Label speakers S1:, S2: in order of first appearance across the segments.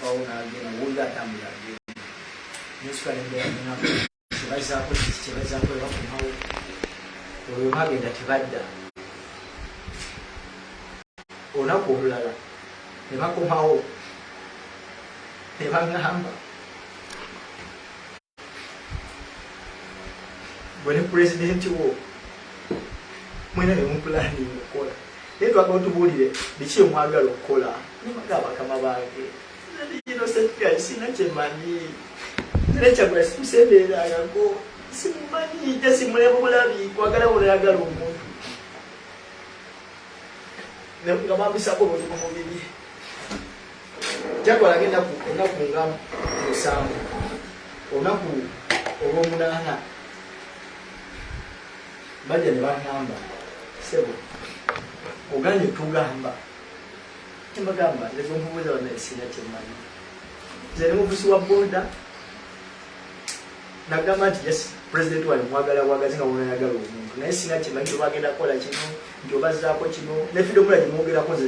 S1: bawo nagenda woyo atambula agenda nosukala embera munako kyebazako kiki kyebazako ebakumawo oyo bagenda tebadda olunaku olulala nebakomawo nebagamba gwe ne pulezidenti wo mwena bemupulani okukola naye twagala otubuulire biki emwagala okukola nibaga abakama bange nino sekiga sina kyemanyi nekyagula simusembeererangako simumanyi ja simuleba obulabi kwagala bulaagala omuntu nga bambisako obuntu ku mubiri jakolako enaku enaku nga musanvu olunaku olwomunaana bajja ne bagamba sebo oganye tugamba kyemagamba nezomubuuza bana esina kyemanyi nze ne muvusi wa boda nagamba nti yes president wali mwagala bwagazi nga wona yagala omuntu naye sina kyemanyi tobagenda kukola kino nti obazaako kino nefidomula gyemwogerako nze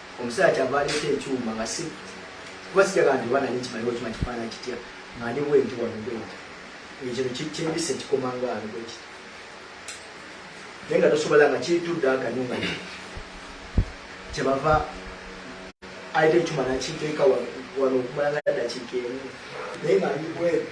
S1: Omusaala kyava aleeta ekyuma nga si kuba sija kanti oba nali nkimanyi oba kimanyi kifaana kitya nga ndi bwenti wano bwenti ekyo kyembisa ekikoma nga ali bweki naye nga tosobola nga kitudde akanyo nga kyebava aleeta ekyuma nakiteeka wano okumala nga ddakiika emu naye nga ndi bwenti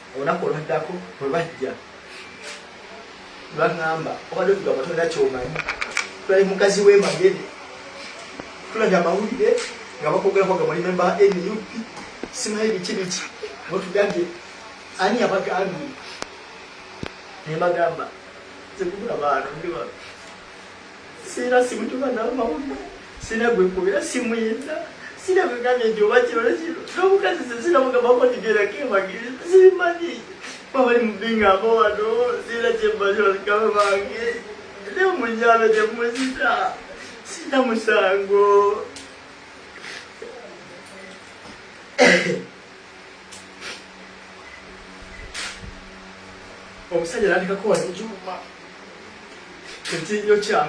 S1: olunaku olwaddako bwe bajja lwaŋŋamba obadde tugamba tolina kyomanyi tulali mukazi w'emagere tulabye amawulire nga bakwogera kwaga muli memba nup simanyi biki biki mutugambye ani yabagambye ne bagamba nze kubula baana ndi bano Sina simutuba namawulire sina gwekubira simuyita sina kwegambye nti oba kino nekino nomukazi sina mugambako nti gerako emagezi simanyi babali mubingamba wano sina kyembazi balikaba bange ne munyalo temuzita sina musango omusajja natekako wano ekyuma ekinyo kya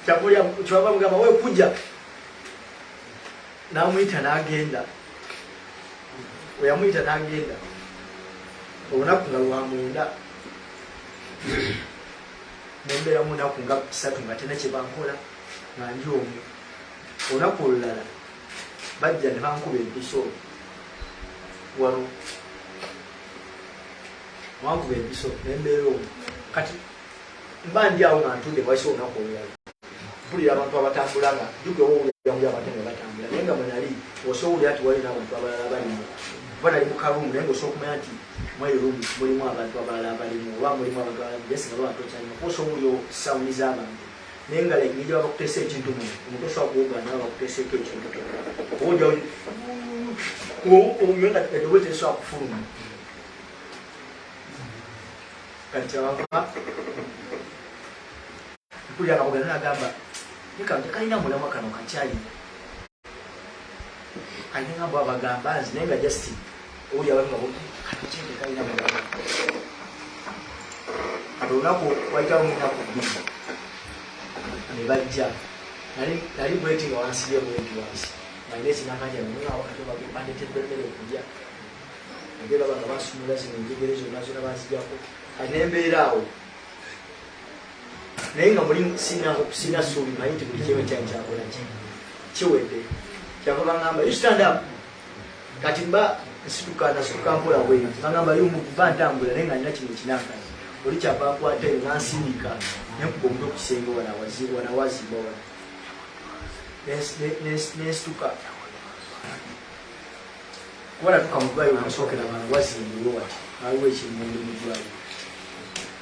S1: kyakulya kyaba mugamba wekuja namuyita nagenda oyamuyita nagenda olunaku nga lwamwenda nembeera munaku nga kusatu nga tena kyebankola nga ndi omu olunaku olulala bajja ne bankuba empiso wano wankuba empiso nembeera omu kati mba ndi awo nga ntunde waiso olunaku olulala mpulira abantu abatambula nga jugewoulyauli abantu nga batambula naye nga mwenali osoowulira nti walina abantu abalala balimu kuba nali mukarumu naye nga osookumanya nti mweyo rumu mulimu abantu abalala balimu oba mulimu abantu abalala byesinga lwatokyalima kuba osoowulira sawuni z'abantu naye nga lengeri gye bakuteesa ekintu mu omuntu osobola kuwogana nawe bakuteeseeko ekintu kyona oja yona edobo tesobola kufuluma kati kyabava mpulira nga bogana nagamba nikantu kalina mulamwa kano kakyalina kanye nga mbwa bagamba nzi naye nga just oli abantu babo kanakyende kalina bagamba kati olunaku wayitawo munaku bbiri ne bajja nali bweti nga wansibye bweti wansi nalina ekinakanja nayeawo kati bandetedde emmere okulya naye baba nga basumula zino enjegere zonna zona bazijako kati nembeera awo naye nga muli sina suubi manyi nti buli kyewe kyali kyakola ki kiwedde kyava bagamba you stand up kati mba nsituka nasuka mpola bweyo bagamba yo muva ntambula naye nga nina kino kinaka oli kyava nkwata eyo nansindika nenkuba omutwe ku kisenge wanawaziba wanawaziba wana nensituka kuba natuka mudwaliro nasookera bana wazimbulwe wati aliwo ekimundu mudwaliro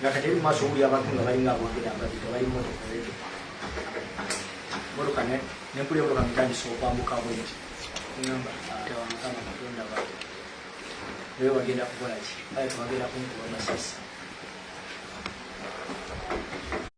S1: nga kati mu maaso wuli abantu nga balinga abogera ababika bali motoka ezo motoka nenkuli emotoka mitandisa okwambuka bwenti ngamba tewamukama katonda ba naye bagenda kukola ki aye tebagenda kunkuba masasi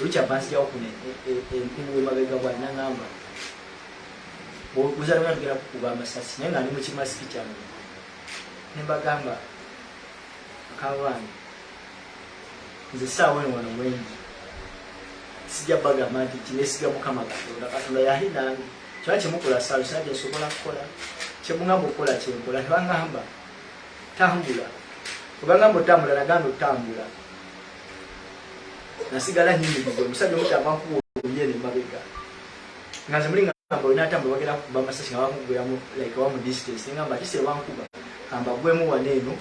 S1: Richard Bansijawo kuno enkubu emabega bwa nangamba bwozala mwana tugenda kukuba amasasi naye nga ndi mukimasiki kyange nembagamba akabaana nze saawa eno wano mwengi sijja bagamba nti kinesiga mukama katonda katonda yali nange kyona kyemukola saawa sina kyensobola kukola kyemugamba okukola kyenkola nebangamba tambula webangamba otambula naganda otambula nasigala nyimiriza omusajja omuti avankuwa oluyere mabega nga nze muli ngamba olina atambula bagenda kukuba amasasi nga bamugweramu like wamu distance ngamba kisi ebankuba kamba gwemu wana eno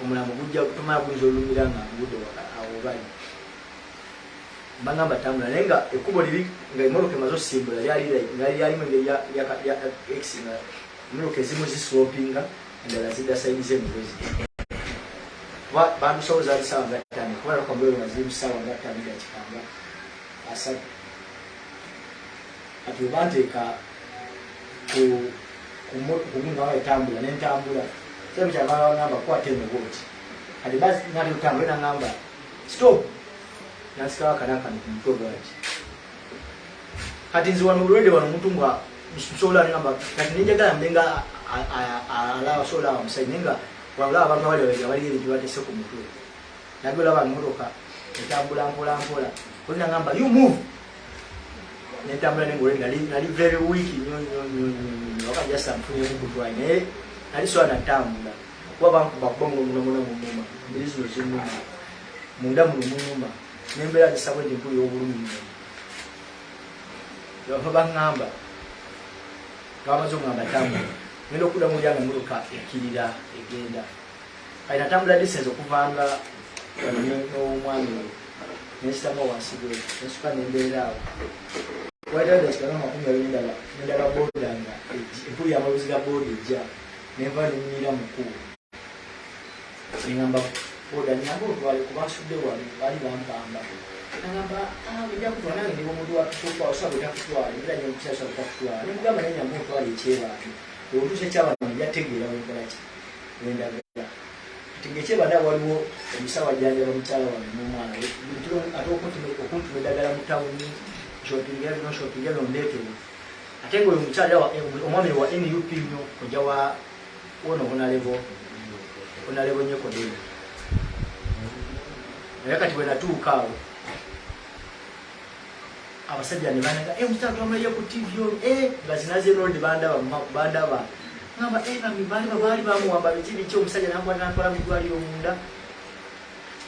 S1: omulamu gujja tumala guyinza olumira nga ngudde awo bali bangamba tambula naye nga ekkubo liri nga emotoka emaze osimbula lyali lyalimu engeri ya ex nga emotoka ezimu zislopinga endala zidda sayidi ze mugozi kuba bandusawo zaali saawa nga ttaano kuba nakwambeero nga ziri mu saawa nga ttaano ga kikanga asatu kati webanteeka kumunaa etambula nentambula sabu kyamala wagamba kukwata enobooti kati basi nali otambule nagamba stop nasikawakanakanti mutwe gwanti kati nze wano bulwede wano omuntu nga nsobola ngamba kati nenjagala mbe nga alaba sobola aba musayi naye nga walaba abantu abali babega baliyo ebintu batese ku mutwe nabi olaba emotoka etambula mpola mpola olina ngamba you move nentambula nengole nali nali very weak nyo nyo nyo nyo waka just amfunye mukutwa naye nali sola natambula kuba bankuba kuba muno muno muno mumuma mbiri zino zimuma munda muno mumuma nembeera zisabwe nti mpulira obulumi nnyo bava baŋŋamba bamaze oŋŋamba tambula ngenda okudda mu lyange muluka ekirira egenda kati natambula disense okuvanga n'omwami oyo nensitamu wansigwe nensuka nembeera awo waitaekikanaamakumi abiri ndala nendala boda nga empulira amaluzi ga boda ejja nenva nenyumira mukulu ngamba oda nyamba otwale kuba nsudde wali bali bampamba agamba ojja kutwala nange ndi omuntu wakutwala osaba ojja kutwala era nyo omukyala osaba ojja kutwala ne mugamba naye nyamba otwala ekyebantu oluse kyabana yategeera wenkola ki wendagala kati ngekyebaana waliwo omusawo ajanjaba mukyala wange nomwana we ate okuntuma eddagala mu tawuni shoppinga bino shoppinga bino ndeetewo ate nga oyo omukyala omwami wa nup nyo kojja wa Wono honalebo honalebo nyeko dini naye kati bwenatuuka awo abasajja ne banaga e eh, mukyala twamulaye ku tv o e eh, bazinaze noldi bandaba bandaba ngamba e eh, bamibali babaali bamuwamba biki biki omusajja nambwa natwala mu ddwaliro munda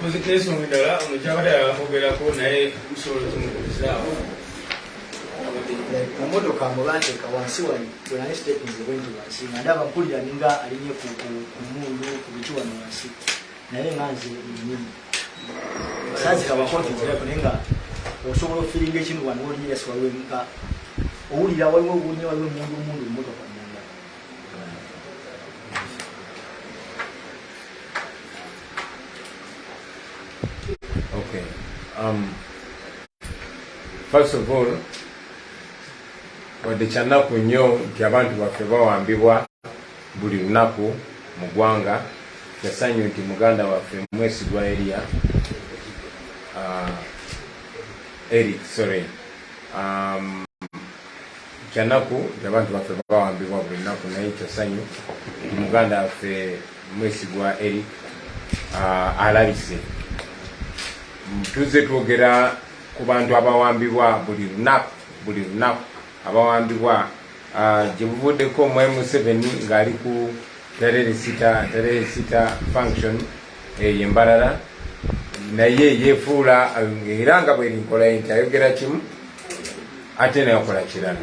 S2: Muzikiriza omudala omukyabadde abakogerako naye musobola otumukubizaawo
S1: mumotoka mubanteeka wansi wali bwenali sitekinze bwenti wansi nga ndaba mpulira ninga alinye ku mundu ku biki wano wansi naye nga nze nyini sazi kaba koti nzira kone nga osobola ofiringa ekintu wano waliwo yesi waliwo nga owulira waliwo owulira waliwo mundu mundu mmotoka munda
S3: okay um first of all wadde kyanaku nnyo nti abantu baffe bawambibwa buli lunaku mu gwanga kyasanyu nti muganda waffe mwesigwa eria uh, eric sorry um, kyanaku abantu baffe bawambibwa buli naku naye kyasanyu muganda waffe mwesigwa eri uh, alabise tuze twogera ku bantu abawambibwa buli lunaku buli lunaku abawambibwa Ah, gye buvuddeko mwai museveni ng'ali ku tereresita tereresita function eyo eh, embalala naye yefuula eh, era nga bweri nkola nti ayogera kimu ate nayokola kirala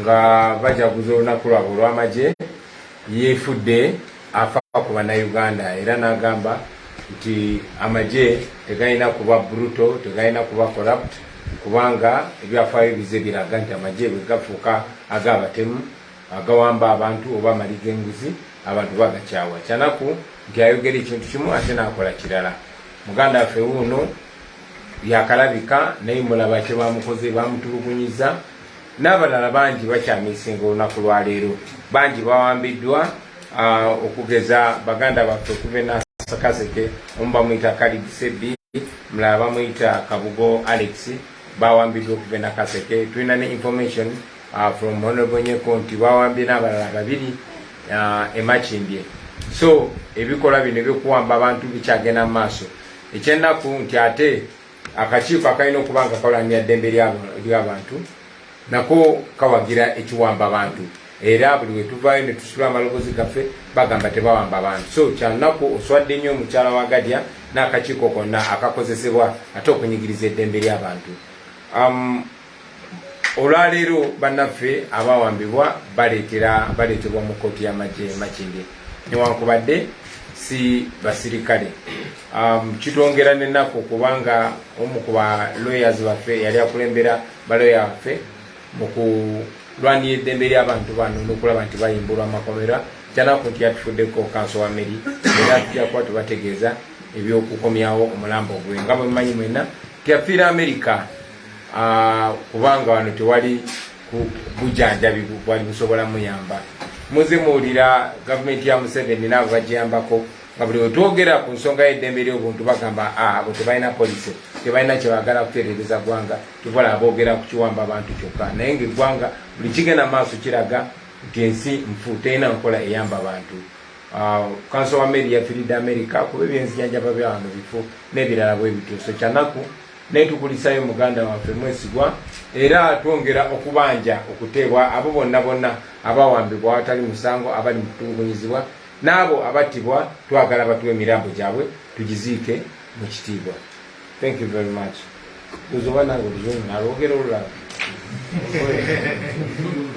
S3: nga bajaguza olunaku lwabwe olw'amagye yeefudde afa ku bannayuganda era n'agamba nti amagye tegalina kuba bruto tegalina kuba corrupt kubanga ebyafaayo bize biraga nti amagye bwe gafuuka ag'abatemu agawamba abantu oba amali g'enguzi abantu bagakyawa kyanaku nti ayogera ekintu kimu ate n'akola kirala muganda waffe wuuno yakalabika naye mulaba kye bamukoze bamutulugunyiza n'abalala bangi bakyamisinga olunaku lwaleero bangi bawambiddwa okugeza baganda baffe okuva enasakaseke omu bamuyita kalid sebi mulala bamuyita kabugo alex bawambiddwa okuva enakaseke tulina ne information uh, from honorable nyeko nti bawambye n'abalala babiri uh, emakimbye so ebikolwa bino ebyokuwamba abantu bikyagenda mu maaso ekyennaku nti ate akakiiko akalina okuba nga kawalanira ddembe ly'abantu nako kawagira ekiwamba bantu era buli wetuvaayo netusula amalobozi gaffe bagamba tebawamba bantu so kyanaku oswadde nnyo omukyala wa gadya n'akakiiko konna akakozesebwa ate okunyigiriza eddembe ly'abantu um, olwaleero bannaffe abawambibwa baleetera baleetebwa mu kkooti y'amagye makinde newankubadde si basirikale um, kitwongera nenaku kubanga omu ku ba lawyers baffe yali akulembera baloya baffe mu kulwanira eddembe ly'abantu bano n'okulaba nti bayimbulwa amakomera kyanaku nti yatufuddeko kanso wa meri era tujja kuba tubategeeza ebyokukomyawo omulambo gwe nga bwemumanyi mwena teyafiira amerika kubanga wano tewali bujanjabi bwali busobola muyamba muze muwulira gavumenti ya museveni naabo bajiyambako nga buli wetwogera ku nsonga y'eddembe ly'obuntu bagamba ah, abo tebalina polisi tebalina kyebagala kutereereza ggwanga tuvola aboogera ku kiwamba abantu kyokka naye nga eggwanga buli kigenda maaso kiraga nti ensi nfu terina nkola eyamba bantu ah, kanso wa meri yafiridde amerika kuba ebyenzijanjaba byawano bifu n'ebirala bwebityo so kyanaku naye tukulisayo muganda waffe mwesigwa era twongera okubanja okuteebwa abo bonna bonna abawambibwa awatali musango abali mu kutulugunyizibwa n'abo abattibwa twagala batuwa emirambo gyabwe tugiziike mu kitiibwa thank you very much uzoba nange oluzungu nalwogera olulala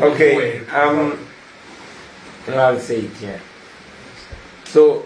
S3: okay um, I'll say it, yeah. so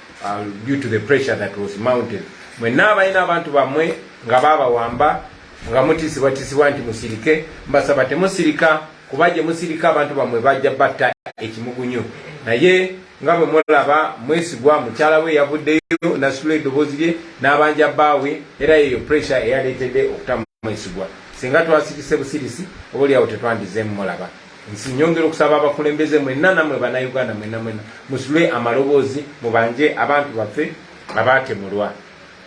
S3: uh, due to the pressure that was mounted mwenna abalina abantu bammwe nga baabawamba nga mutiisibwatiisibwa nti musirike mbasaba temusirika kuba gye musirika abantu bammwe bajja batta ekimugunyu naye nga bwe mulaba mwesigwa mukyala we yavuddeyo nasitula eddoboozi lye n'abanja bbaawe era yeyo pressure eyaleetedde okutamu mwesigwa singa twasirise busirisi oba olyawo tetwandizeemu mulaba nsi nyongera okusaba abakulembeze mwenna namwe banauganda mwenna mwenna musule amaloboozi mubanje abantu baffe abaatemulwa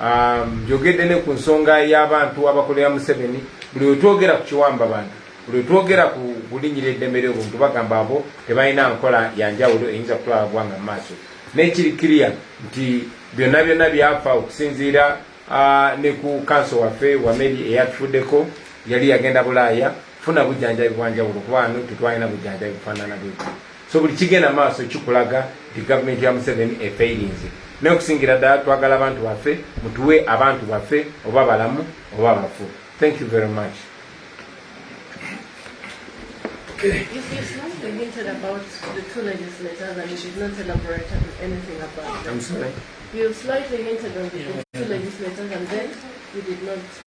S3: um, njogedde um, ne ku nsonga y'abantu abakolera museveni buli wetwogera ku kiwamba bantu buli wetwogera ku kulinyira eddembe lyobuntu bagamba abo tebalina nkola yanjawulo eyinza kutwala gwanga mu maaso naye kiri kiriya nti byonna byonna byafa okusinziira uh, ne ku kanso waffe wameri eyatufuddeko yali yagenda bulaaya funa bujjanjabi bwanjawulo kuba no tetwalina bujjanjabi bufaanana bweku so buli kigenda maaso kikulaga nti gavumenti ya museveni efeirinze naye okusingira ddala twagala abantu baffe mutuwe abantu baffe oba balamu oba bafu thank you very much okay.
S4: You slightly hinted on the two legislators and then
S3: you did
S4: not.